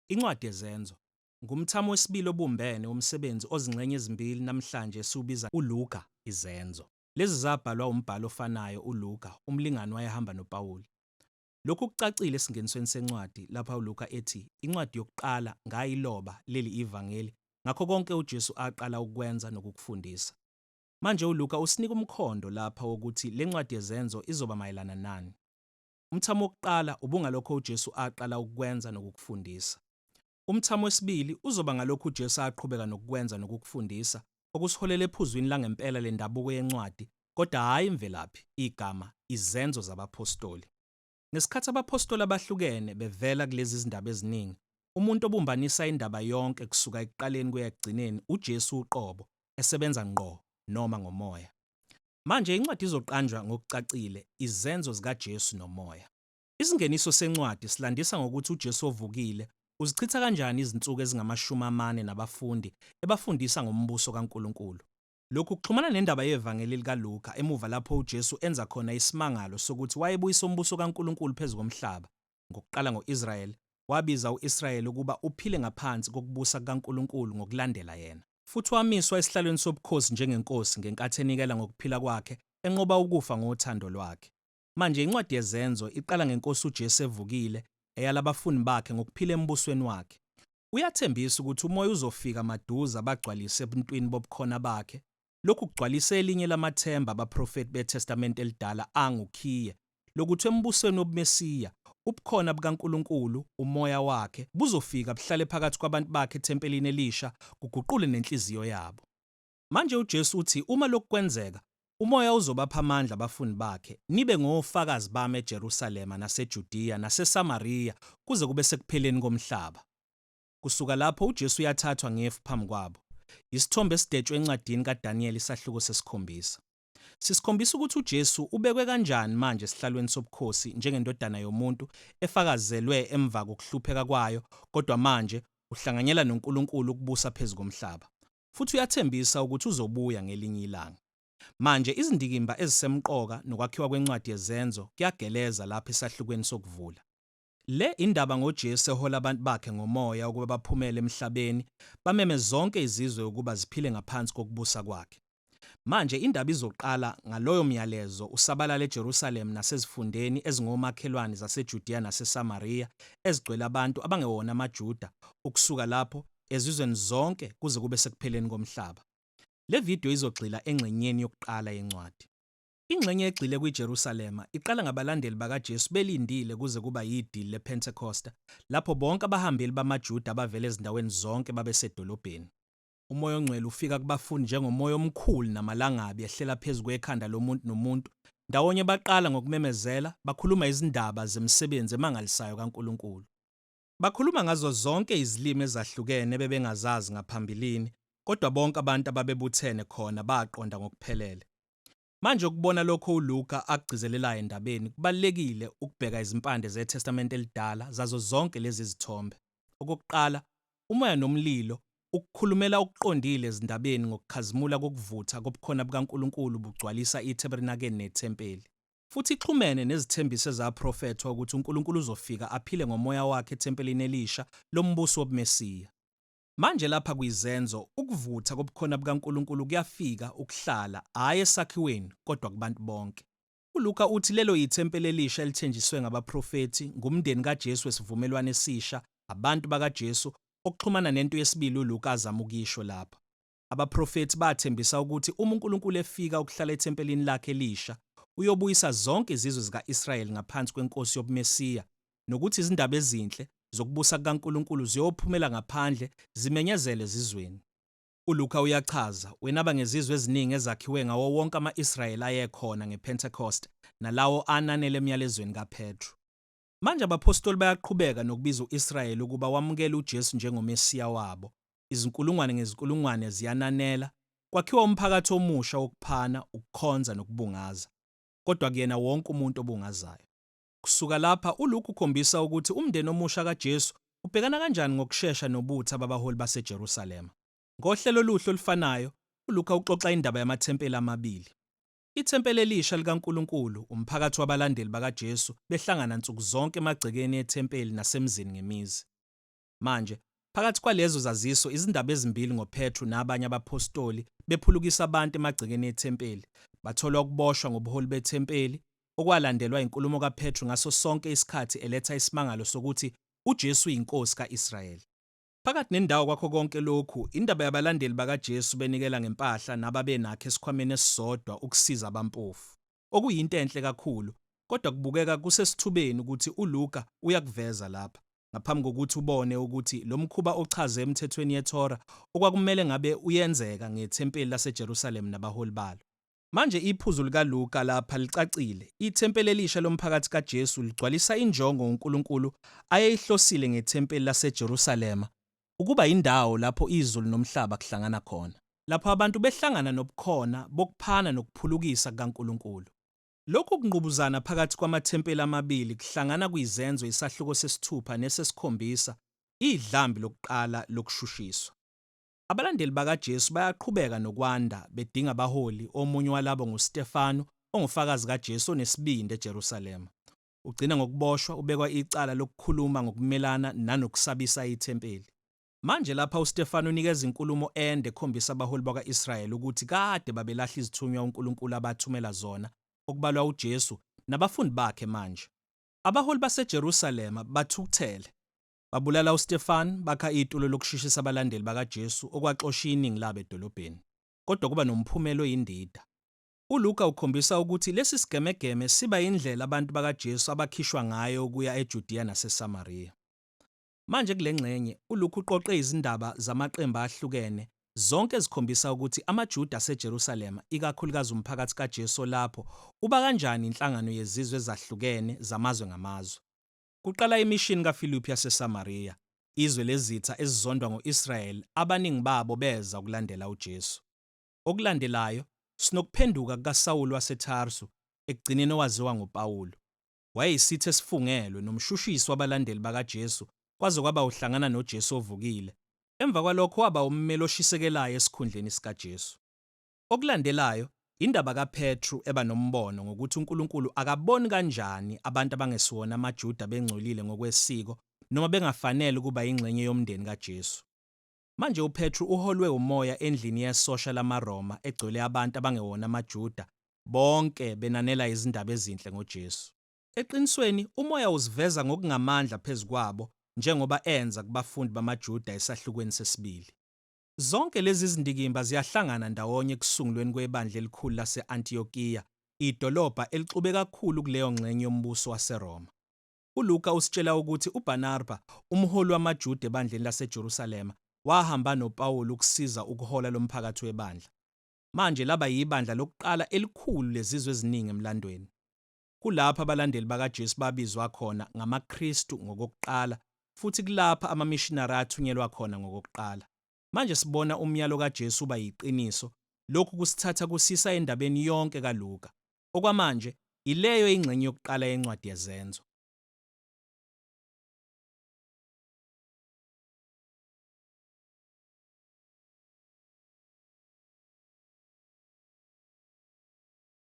Incwadi yezenzo ngumthamo wesibili obumbene womsebenzi ozingxenye ezimbili namhlanje esiwubiza uLuka izenzo. Lezi zabhalwa umbhali ofanayo uLuka, umlingani wayehamba noPawulu. Lokhu kucacile esingenisweni sencwadi lapha uLuka ethi incwadi yokuqala ngayiloba leli ivangeli ngakho konke uJesu aqala ukukwenza nokukufundisa. Manje uLuka usinika umkhondo lapha wokuthi le ncwadi yeZenzo izoba mayelana nani. Umthamo wokuqala ubungalokho uJesu aqala ukukwenza nokukufundisa. Umthamo wesibili uzoba ngalokho uJesu aqhubeka nokukwenza nokukufundisa, okusiholela ephuzwini langempela lendabuko yencwadi, kodwa hhayi imvelaphi, igama, izenzo zabaphostoli. Ngesikhathi abaphostoli abahlukene bevela kulezi zindaba eziningi, umuntu obumbanisa indaba yonke kusuka ekuqaleni kuya ekugcineni uJesu uqobo, esebenza ngqo noma ngomoya. Manje, incwadi izoqanjwa ngokucacile, Izenzo ZikaJesu Nomoya. Isingeniso sencwadi silandisa ngokuthi uJesu ovukile uzichitha kanjani izinsuku ezingamashumi amane nabafundi ebafundisa ngoMbuso kaNkulunkulu. Lokhu kuxhumana nendaba yeVangeli likaLuka emuva lapho uJesu enza khona isimangalo sokuthi wayebuyisa umbuso kaNkulunkulu phezu komhlaba, ngokuqala ngo-Israyeli, wabiza u-Israyeli ukuba uphile ngaphansi kokubusa kukaNkulunkulu ngokulandela yena. Futhi wamiswa esihlalweni sobukhosi njengeNkosi ngenkathi enikela ngokuphila kwakhe enqoba ukufa ngothando lwakhe. Manje, incwadi yeZenzo iqala ngeNkosi uJesu evukile, eyala abafundi bakhe ngokuphila embusweni wakhe. Uyathembisa ukuthi umoya uzofika maduze abagcwalise ebuntwini bobukhona bakhe. Lokhu kugcwalisa elinye lamathemba abaprofethi beTestamente Elidala angukhiye, lokuthi embusweni wobuMesiya, ubukhona bukaNkulunkulu, umoya wakhe, buzofika buhlale phakathi kwabantu bakhe ethempelini elisha, kuguqule nenhliziyo yabo. Manje uJesu uthi uma lokhu kwenzeka, uMoya uzobapha amandla abafundi bakhe, nibe ngofakazi bami eJerusalema naseJudiya naseSamariya kuze kube sekupheleni komhlaba. Kusuka lapho uJesu uyathathwa ngefu phambi kwabo. Yisithombe esidetshwe encwadini kaDaniyeli isahluko sesikhombisa. Sisikhombisa ukuthi uJesu ubekwe kanjani manje esihlalweni sobukhosi njengendodana yomuntu efakazelwe emva kokuhlupheka kwayo kodwa manje uhlanganyela noNkulunkulu ukubusa phezu komhlaba. futhi uyathembisa ukuthi uzobuya ngelinye ilanga. Manje, izindikimba ezisemqoka nokwakhiwa kwencwadi yeZenzo kuyageleza lapha esahlukweni sokuvula. Le indaba ngoJesu ehola abantu bakhe ngomoya ukuba baphumele emhlabeni bameme zonke izizwe ukuba ziphile ngaphansi kokubusa kwakhe. Manje, indaba izoqala ngaloyo myalezo usabalale eJerusalema nasezifundeni ezingomakhelwane zaseJudiya naseSamariya ezigcwele abantu abangewona amaJuda ukusuka lapho ezizweni zonke kuze kube sekupheleni komhlaba. Le vidiyo izogxila engxenyeni yokuqala yencwadi. Ingxenye egxile kwiJerusalema iqala ngabalandeli bakaJesu belindile kuze kuba yidili lePhentekosta, lapho bonke abahambeli bamaJuda abavela ezindaweni zonke babesedolobheni. Umoya ongcwele ufika kubafundi njengomoya omkhulu namalangabi ehlela phezu kwekhanda lomuntu nomuntu. Ndawonye baqala ngokumemezela, bakhuluma izindaba zemisebenzi emangalisayo kaNkulunkulu. Bakhuluma ngazo zonke izilimi ezahlukene ebebengazazi ngaphambilini, kodwa bonke abantu ababebuthene khona baqonda ngokuphelele. Manje, ukubona lokho uLuka akugcizelelayo endabeni, kubalulekile ukubheka izimpande zeTestamente eliDala zazo zonke lezi zithombe. Okokuqala, umoya nomlilo ukukhulumela okuqondile ezindabeni ngokukhazimula kokuvutha kobukhona bukaNkulunkulu bugcwalisa ithebernakeni nethempeli. futhi ixhumene nezithembiso ezaprofethwa ukuthi uNkulunkulu uzofika aphile ngomoya wakhe ethempelini elisha lombusi wobuMesiya. Manje lapha kwizenzo, ukuvutha kobukhona bukaNkulunkulu kuyafika, ukuhlala, hhayi esakhiweni, kodwa kubantu bonke. ULuka uthi lelo yithempeli elisha elithenjiswe ngabaprofethi, ngumndeni kaJesu wesivumelwano esisha, abantu bakaJesu, okuxhumana nento yesibili uLuka azama ukuyisho lapha. Abaprofethi bathembisa ukuthi uma uNkulunkulu efika ukuhlala ethempelini lakhe elisha, uyobuyisa zonke izizwe zika-Israyeli ngaphansi kweNkosi yobuMesiya, nokuthi izindaba ezinhle zokubusa kukaNkulunkulu ziyophumela ngaphandle zimenyezelwe ezizweni. ULuka uyachaza, Wenaba ngezizwe eziningi ezakhiwe ngawo wonke ama-Israyeli ayekhona ngePentekoste nalawo ananela emyalezweni kaPetru. Manje abaphostoli bayaqhubeka nokubiza u-Israyeli ukuba wamukele uJesu njengoMesiya wabo. Izinkulungwane ngezinkulungwane ziyananela, kwakhiwa umphakathi omusha wokuphana, ukukhonza, nokubungaza. Kodwa akuyena wonke umuntu obungazayo. Kusuka lapha, uLuke ukhombisa ukuthi umndeni omusha kaJesu ubhekana kanjani ngokushesha nobutha babaholi baseJerusalema. Ngohlelo oluhle olufanayo, uLuka uxoxa indaba yamathempeli amabili. Ithempeli elisha likaNkulunkulu, umphakathi wabalandeli bakaJesu behlangana nsuku zonke emagcekeni ethempeli nasemizini ngemizi. Manje, phakathi kwalezo zaziso izindaba ezimbili ngoPetru nabanye abaphostoli bephulukisa abantu emagcekeni ethempeli, batholwa ukuboshwa ngobuholi bethempeli, okwalandelwa inkulumo kaPetru ngaso sonke isikhathi eletha isimangalo sokuthi uJesu uyiNkosi ka-Israyeli. Phakathi nendawo kwakho konke lokhu, indaba yabalandeli bakaJesu benikela ngempahla nababenakho esikhwameni esisodwa ukusiza abampofu, okuyinto enhle kakhulu, kodwa kubukeka kusesithubeni ukuthi uLuka uyakuveza lapha, ngaphambi kokuthi ubone ukuthi lo mkhuba ochazwe emithethweni yeTorah okwakumele ngabe uyenzeka ngethempeli laseJerusalema nabaholi balo. Manje iphuzu likaLuka lapha licacile, ithempeli elisha lomphakathi kaJesu ligcwalisa injongo uNkulunkulu ayeyihlosile ngethempeli laseJerusalema, ukuba yindawo lapho izulu nomhlaba kuhlangana khona. Lapho abantu behlangana nobukhona bokuphana nokuphulukisa kukaNkulunkulu. Lokhu kungqubuzana phakathi kwamathempeli amabili kuhlangana kuyiZenzo isahluko sesithupha nesesikhombisa, idlambi lokuqala lokushushiswa. Abalandeli bakaJesu bayaqhubeka nokwanda, bedinga abaholi, omunye walabo nguStefanu, ongufakazi kaJesu onesibindi eJerusalema. Ugcina ngokuboshwa, ubekwa icala lokukhuluma ngokumelana nanokusabisa ithempeli. Manje lapha uStefanu unikeza inkulumo ende ekhombisa abaholi bakwa-Israyeli ukuthi kade babelahla izithunywa uNkulunkulu abathumela zona, okubalwa uJesu, nabafundi bakhe manje. Abaholi baseJerusalema bathukuthele. Babulala uStefan, bakha itulo lokushishisa abalandeli bakaJesu okwaxosha iningi labo edolobheni. Kodwa kuba nomphumela oyindida. ULuka ukhombisa ukuthi lesi sigemegeme siba yindlela abantu bakaJesu abakhishwa ngayo ukuya eJudiya naseSamariya. Manje kule ngxenye, uLuka uqoqe izindaba zamaqembu ahlukene, zonke ezikhombisa ukuthi amaJuda aseJerusalema, ikakhulukazi umphakathi kaJesu olapho, uba kanjani inhlangano yezizwe ezahlukene zamazwe ngamazwe. kuqala imishini kaFiliphu yaseSamariya, izwe lezitha ezizondwa ngo-Israyeli abaningi babo beza ukulandela uJesu. Okulandelayo, sinokuphenduka kukaSawulu waseTarsu, ekugcineni owaziwa ngoPawulu. Wayeyisithi esifungelwe nomshushisi wabalandeli bakaJesu kwaze kwaba uhlangana noJesu ovukile. Emva kwalokho waba ummeli oshisekelayo esikhundleni sikaJesu. Okulandelayo indaba kaPetru eba nombono ngokuthi uNkulunkulu akaboni kanjani abantu abangesiwona amaJuda bengcolile ngokwesiko noma bengafanele ukuba yingxenye yomndeni kaJesu. Manje uPetru uholwe umoya endlini yesosha lamaRoma egcwele abantu abangewona amaJuda, bonke benanela izindaba ezinhle ngoJesu. Eqinisweni, umoya uziveza ngokungamandla phezu kwabo njengoba enza kubafundi bamaJuda esahlukweni sesibili. Zonke lezi zindikimba ziyahlangana ndawonye ekusungulweni kwebandla elikhulu lase-Antiyokiya, idolobha elixube kakhulu kuleyo ngxenye yombuso waseRoma. ULuka usitshela ukuthi uBarnarba, umholi wamaJuda ebandleni laseJerusalema, wahamba noPawulu ukusiza ukuhola lomphakathi webandla. Manje laba yibandla lokuqala elikhulu lezizwe eziningi emlandweni. Kulapha abalandeli bakaJesu babizwa khona ngamaKristu ngokokuqala, futhi kulapha amamishinari athunyelwa khona ngokokuqala. Manje sibona umyalo kaJesu uba yiqiniso, lokhu kusithatha kusisa endabeni yonke kaLuka. Okwamanje, ileyo ingxenye yokuqala yencwadi yeZenzo.